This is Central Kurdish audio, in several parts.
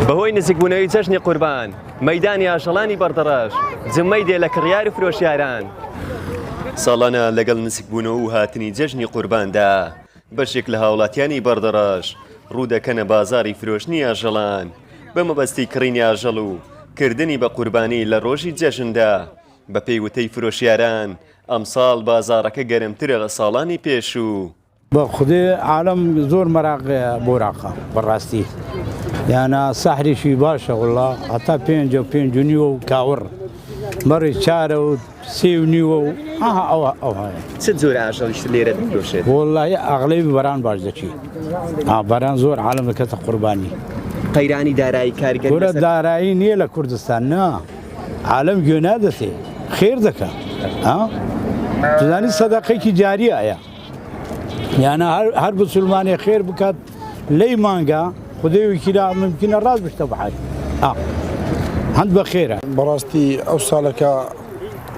بەهۆی نزیکبوونەوەی جەژنی قوربان مەدانی ئاژەڵانی بەردەڕەش جمەی دێ لە کڕیار و فرۆشیاران ساڵانە لەگەڵ نزیکبوونەوە و هاتنی جەژنی قورباندا بەشێک لە هاوڵاتیانی بەردەڕەش ڕوودەکەنە بازاری فرۆشتنی ئاژەڵان بە مەبەستی کڕینی ئاژەڵ و کردنی بە قوربانی لە ڕۆژی جەژندا بەپێی وتەی فرۆشیاران ئەمساڵ بازارەکە گەرمترە لە ساڵانی پێشوو. بە خودێ عالەم زۆر مەراق بۆراقە بەڕاستی یانا سەحریشی باشە وڵا هەتا پێنج و پێنج و نیوە و کاوڕ مەڕی چارە و سێ و نیوە و ئاها ئەوە ئەوە چ جۆر ئاژەڵیشت لێرە دەفرۆشێت وڵی ئەغڵی بەران باش دەچی ئاباران زۆر عالم دەکەتە قوربانی قەیرانی دارایی کارگەرە دارایی نییە لە کوردستان نا عالم گوێ نادەسێ خێر دەکات زانی سەدەقێکی جاری ئایا یانە هەر بسلمانێ خێر بکات لەی مانگە خدەی وکیلا ممکنە ڕاست بشتە بحات هەند بە خێرە بەڕاستی ئەو ساڵەکە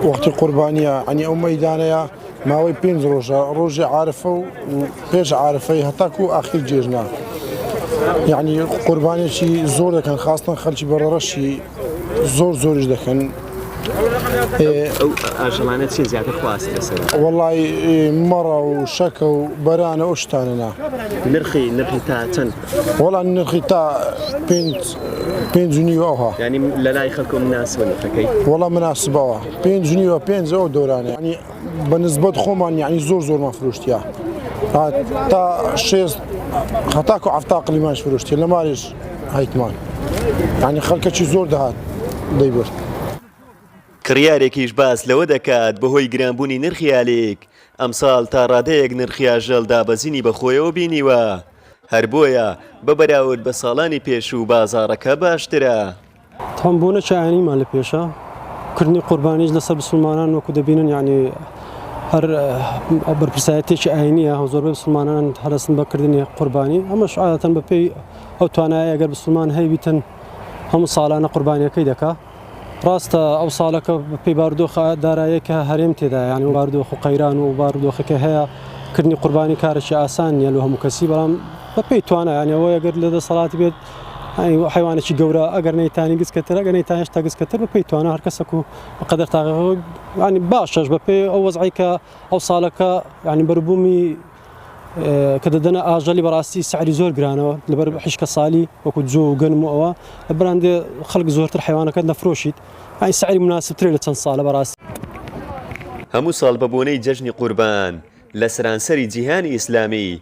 وەختی قوربانیە ئەنی ئەو مەدانەیە ماوەی پێنج ڕۆژە ڕۆژی عاعرفە و پێش عاعرفەی هەتاکو و ئاخیر جێژنا یعنی قوربانێکی زۆر دەکەن خاستن خەلکی بەڕەڕەشی زۆر زۆریش دەکەن ئاژەڵانە چین زیاتر خواست لەسەر وڵی مەڕە و شەکە و بەرانە ئەو شتانەنا نرخی نرخی تا چەند وەڵام نرخی تا پێنج نیوەها ینی لە لای خەکم ناسبەکەی وەڵام مناسبەوە پێنج نیوە پێنجەوە دۆرانانی بە نسبەت خۆمان یعنی زۆر زۆرمان فرۆشتیا تا شێست هەتاکو عفتا قلیمانش فرۆشتێ لە مارێش هەیتمان یعنی خەڵکەکی زۆر دەهات دەیبرد. کڕیارێکیش باس لەوە دەکات، بەهۆی گرانبوونی نرخی ئالیک، ئەمساڵ تا ڕادەیەک نرخی ئاژەڵ دابەزینی بەخۆیەوە بینیوە، هەر بۆیە بە بەراورد بە ساڵانی پێشوو بازاڕەکە باشترە. تام بۆ نە شایەنیمان لە پێشە کردنی قوربانیش لەسەر بسلمانان وەکو دەبینن یعنی هەر بەرپرسایەتێکی ئاینیە هەو زۆربەی بسلمانان هەرسن بەکردنی قوربانی ئەمەش عادەتەن بەپی ئەو توانایە گەر بسلمان هەیبیتن هەموو ساڵانە قوربانیەکەی دەکا ڕاستە ئەو ساڵەکە پێی باردۆخە دارایەکە هەرێم تێدا یعنی و باردۆخ و قەیران و باردۆخەکە هەیە کردنی قوربانی کارێکی ئاسان نیە لە هەموو کەسی بەڵام بەپی توانایانەوەیە گەر لە دەسەڵاتی بێت یانی حەیوانێکی گەورە ئەگەر نەیتانی گچکە تر ئەگەر نەیتان هێشتا گچکە تر بەپێی توانا هەر کەسەک و بەقەدەر تاقەکەی یانی باشەش بەپێی ئەو وەزعەی کە ئەو ساڵەکە یانی بەروبوومی کە دەدەنە ئاژەلی بەڕاستی سعری زۆر گرانەوە لەبەر حیشکە سالی وەکو جۆ و گەنم و ئەوە لە بەراندێ خەڵک زۆرتر حیوانەکەت نەفرۆشیت ئای سعری مناسبترێ لە چەند ساڵە بەڕاستی. هەموو ساڵ بەبۆنەی جەژنی قوربان لە سەرانسەری جیهانی ئیسلامی،